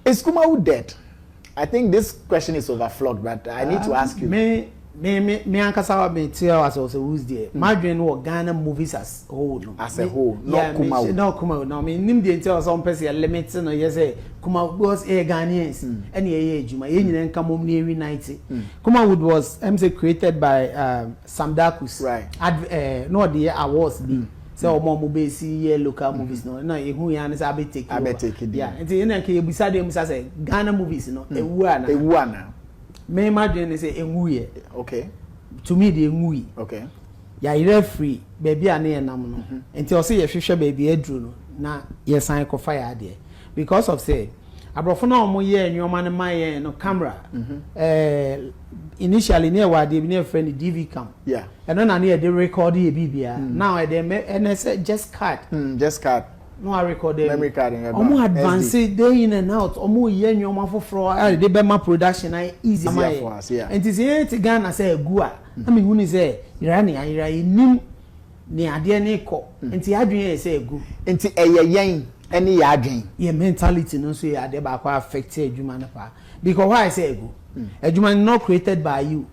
Is Kumawu dead? I think this question is overflawed but I need to ask you. Me me me me ankasa wa me te as was a who's there. Mm. Madwin wɔ Ghana movies as whole no. As a whole, not yeah, Kumawu. Me, not Kumawu. No, me nim the nti as on pese limit no yes eh Kumawu because eh Ghanaians mm. and yeah yeah juma. Ye nyina nka mom ne ewi 90. Mm. Kumawu was I'm say created by um, Sam Darkus adv ɛɛ na ɔde yɛ awards bi sɛ wɔn a wɔbɛsi yɛ local movies no na yɛhu yɛ ara ne sɛ abɛ take over abɛ take din yeah nti ɛna nka yɛbisa deɛ misa sɛ Ghana movies no ɛwu anaa ɛwu anaa me m'adwene ne sɛ ɛnwuiɛ okay to me deɛ ɛnwui okay yɛayerɛ afiri baabi a ne yɛnam no nti ɔsɛ yɛhwehwɛ baabi aduru no na yɛsan kɔfa yɛ adeɛ Because of sɛ abrɔfo no a wɔn yɛɛ nnoɔma no ma yɛn no camera ɛɛ initially ne ɛwɔ adeɛ bi ne yɛfrɛ no DV cam ɛno na ne yɛde record yɛ biribiara now ɛdɛ mɛ ɛnɛ sɛ just card just card na wa record ɛmu memory card no ɛba wɔn advance day in and out wɔn reyɛ nnoɔma foforɔ a yɛde bɛma production no ayɛ easy ama yɛn nti sɛ yɛn te Ghana sɛ agu a na mi hu ne sɛ yera ne ayera yɛ nim. Nea adeɛ no rekɔ. Nti yɛn adwene yɛ sɛ ɛgu. Nti ɛyɛ yɛn ne yɛn adwene. Yɛn mentality no nso yɛ adeɛ baako a affect adwuma no paa. Bi kɔ hɔ a ayɛ sɛ ɛgu. Adwuma no not created by you.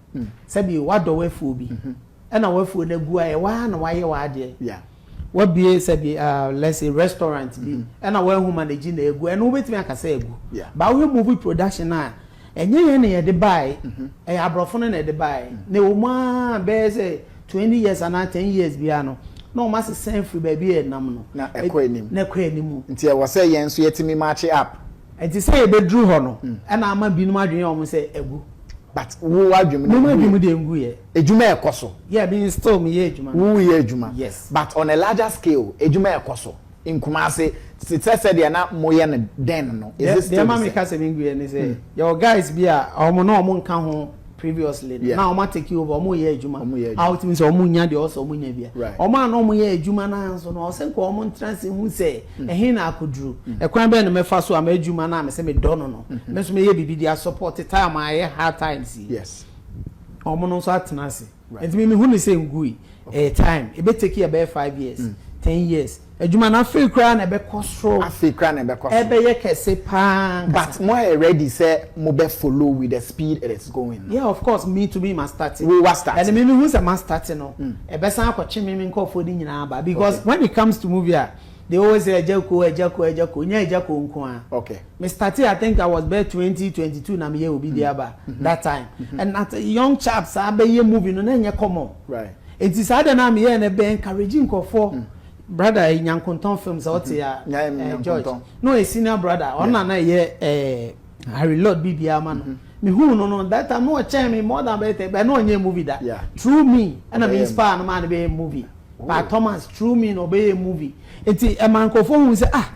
Sɛbi woadɔ w'afuo bi. Ɛna w'afuo no agu a ɛyɛ woaa na woayɛ w'adeɛ. W'abue sɛbi let's say restaurant bi ɛna woanhu manage na ɛgu. Ɛno wobɛtumi aka sɛ ɛgu. But wohwɛ movie production a. Ɛnyɛ yɛn na yɛde baeɛ, ɛyɛ aborɔfo no na ɛde baeɛ. Na ɛwɔ mu ara a bɛyɛ sɛ twenty years anaa ten years biara no, na wɔn asesa afiri baabi a ɛnam no. Na ɛkɔ anim. Na ɛkɔ anim. Nti ɛwɔ sɛ yɛn nso yɛtumi match up. Nti sɛ yɛbɛduru hɔ no, ɛna ama binom adwene yɛ wɔn sɛ agu. But wo w'adwene mu no ɛnguiɛ? Me m'adwene mu deɛ ɛnguiɛ. Adwuma ɛkɔ so? Yeah, me still meyɛ adwuma no. Woreyɛ adwuma? Yes. But on a larger scale, adwuma ɛkɔ so? nkumaa ase te sɛ sɛdeɛ na moyɛ no then no, is it still the same? Deɛ ɛma meka sɛ menguiɛ ne sɛ, yɛwɔ guys bi a wɔn na wɔn nka ho previously no, na wɔn a take over, wɔn reyɛ adwuma a wotumi sɛ wɔn nnya deɛ ɛwɔ sɛ wɔn nya bia. Wɔn a na wɔn yɛ adwuma no ara nso no, ɛwɔ sɛ nka wɔn ntra ase nhu sɛ ɛhe na akɔduru, ɛkwan bɛn na mɛfa so a m'adwuma no a mesɛ medɔ no no, me nso mɛyɛ biribi de a support time a ɛyɛ hard times yi, wɔn no nso atena ase. Nti me mehu no sɛ ngui. Ɛyɛ time. Ebe take yɛ bɛyɛ five years, ten years adwuma no afei koraa na ɛbɛkɔ soro. Afei koraa na ɛbɛkɔ soro. Ɛbɛyɛ kɛse paa ankasa. But mo ayɛ ready sɛ mo bɛ follow with the speed it is going no? Yeah of course me too me ma start. Wo wa start. Ɛna me mehu sɛ ma start no ɛbɛsan akɔtwe me me nkorɔfoɔ no nyinaa aba because when it comes to movie a they always say Agyako Agyako Agyako nyɛ Agyako nko ara. Okay. me startee I think I was bɛyɛ twenty, twenty two na meyɛ obi de aba that time and at a young chap saa bɛyɛ movie no na ɛnyɛ common nti saa deɛ no a meyɛɛ no ɛbɛ encourage nkurɔfoɔ brother eh, Nyankontɔn films a ɔte a eh, George na ɔyɛ senior brother ɔno na na ɛyɛ eh, Harry Lord biribiara ma no mehuu no no that time na ɔkyɛn me more than bɛyɛ tɛ bɛ na ɔnyɛ movie da through me ɛna me inspire no maa no bɛyɛ movie by Thomas true mean ɔbɛyɛ movie nti ɛma nkorɔfoɔ hu sɛ ah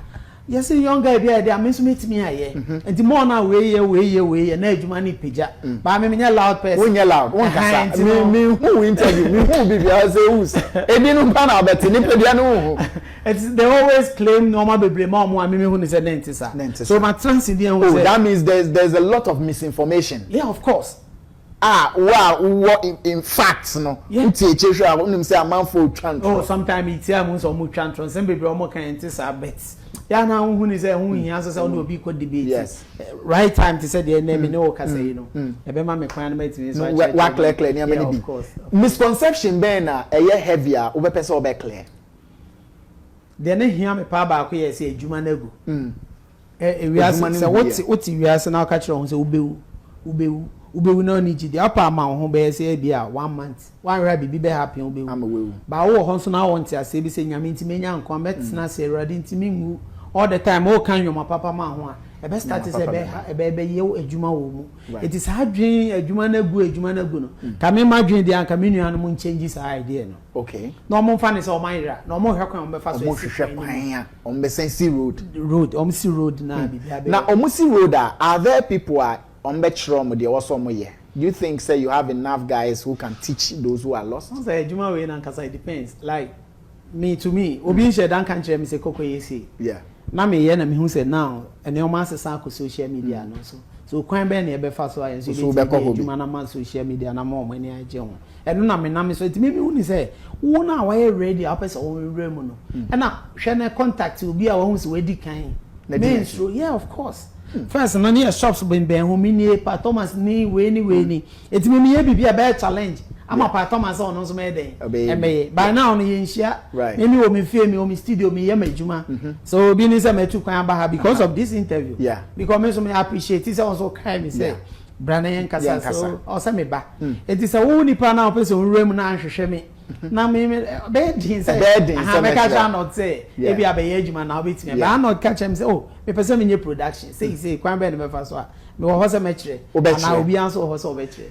yɛse young guy bi ayɛ dɛ a me nso mɛtumi ayɛ nti more no a wei yɛ wei yɛ wei yɛ na adwuma no repagya baa me menyɛ loud person wonyɛ loud wonkasa me me hu wo interview me hu bi biara sɛ us ɛdi no mpa na abɛte nipadua no wohu it's they always claim nneɛma bebree ma ɔmo a me mehu ne sɛ ne nte saa so matrase bi ahu sɛ oh that means there's, there's a lot of misinformation yeah of course a wo a wowɔ in facts no wo tie akyire hwɛ a wo nim sɛ amanfoɔ retwa ntorɔ. Oh sometime me tie a mehu sɛ wɔretwa ntorɔ nsɛm bebree a wɔka yɛ nte saa but yɛ a na wohu ne sɛ ɛho nhia nso sɛ wo ne obi rekɔ debate right time te sɛ deɛ ɛnnɛ me ne wo rekasa yi no ɛbɛma me kwan no matumi nso akyerɛkyerɛ wo nneɛma bi yeah of course. Misconception bɛn na ɛyɛ heavy a wobɛpɛ sɛ wobɛ clear? Deɛ na ɛhia me paa baako yɛ sɛ adwuma no agu Wiase, sɛ wote wiase na woka kyerɛ wɔn sɛ wobɛwu, wobɛwu, wobɛwu na ɔne gye deɛ ɔpɛ ama wo ho bɛyɛ sɛ ebi a one month wanhwɛ a biribi bɛ happen wobɛwu baa wowɔ hɔ nso na wɔnte aseɛ bi sɛ nyame nti mɛnya nkwa mɛtena ase awurade nti menwu all the time woka nnwoma papa ma ho a ɛbɛ start sɛ ɛbɛ ɛbɛyɛ adwuma wɔ mu ɛti saa adwene adwuma no agu adwuma no agu no ka me ma adwene deɛ anka me nuanom nkyɛngyi saa idea no Okay. Na wɔn nfa ne sɛ wɔn ayera na wɔn hwɛ kwan wɔn bɛ fa so esi kwan no mu. Wɔn hwɛ kwan a wɔn bɛ sɛn si road. Road wɔn si road na bibi abɛ. Na wɔn si road a are there people a wɔn bɛ kyerɛ wɔn deɛ wɔsɔ wɔn yɛ do you think sɛ you have enough guys who can teach those who are lost. Wɔn sɛ adwuma wei na nkasa it depends like me to me obi nhyɛ da nka nkyerɛ me sɛ kɔkɔ yɛ sei. Yeah. Na me yɛ na me hu sɛ now nneɛma asesa akɔ social media no so so kwan bɛn na yɛ bɛ fa so ayɛ nso yɛ bɛ tumi yɛ adwuma na ma social media na ma wɔn ani agye ho. Ɛno na menam ne so. Nti me mehu ne sɛ wo no a wayɛ ready a wopɛ sɛ wowura mu no ɛna hwɛ na contact obi a wahu sɛ wadi kan. Mensuro yeah of course first no ne yɛ shops bɛnbɛn ho me nie Pa Thomas ni wei ni wei ni nti me meyɛ biribi a ɛbɛyɛ challenge ama Pa Thomas sɛ ɔno nso mɛyɛ dɛn ɛbɛyɛ by now no yɛnhyia me mewɔ me fie mewɔ me studio meyɛ m'adwuma sɛ obi ne sɛ matu kwan aba ha because of this interview because me nso me appreciate sɛ wo nso wokae me sɛ Bra na yɛnkasa. So ɔsɛ me ba. Enti sɛ wo nipa no a wopɛ sɛ owura mu no anhwehwɛ me na me me ɛbɛyɛ den sɛ aha mɛka kyerɛ Arnold sɛ ebi abɛyɛ adwuma na wobɛtumi aba. Arnold ka kyerɛ me sɛ oh mepɛ sɛ menyɛ production sei sei kwan bɛn na mɛfa so a mewɔ hɔ sɛ mɛkyerɛ anaa obiara nso wɔ hɔ sɛ ɔbɛkyerɛ.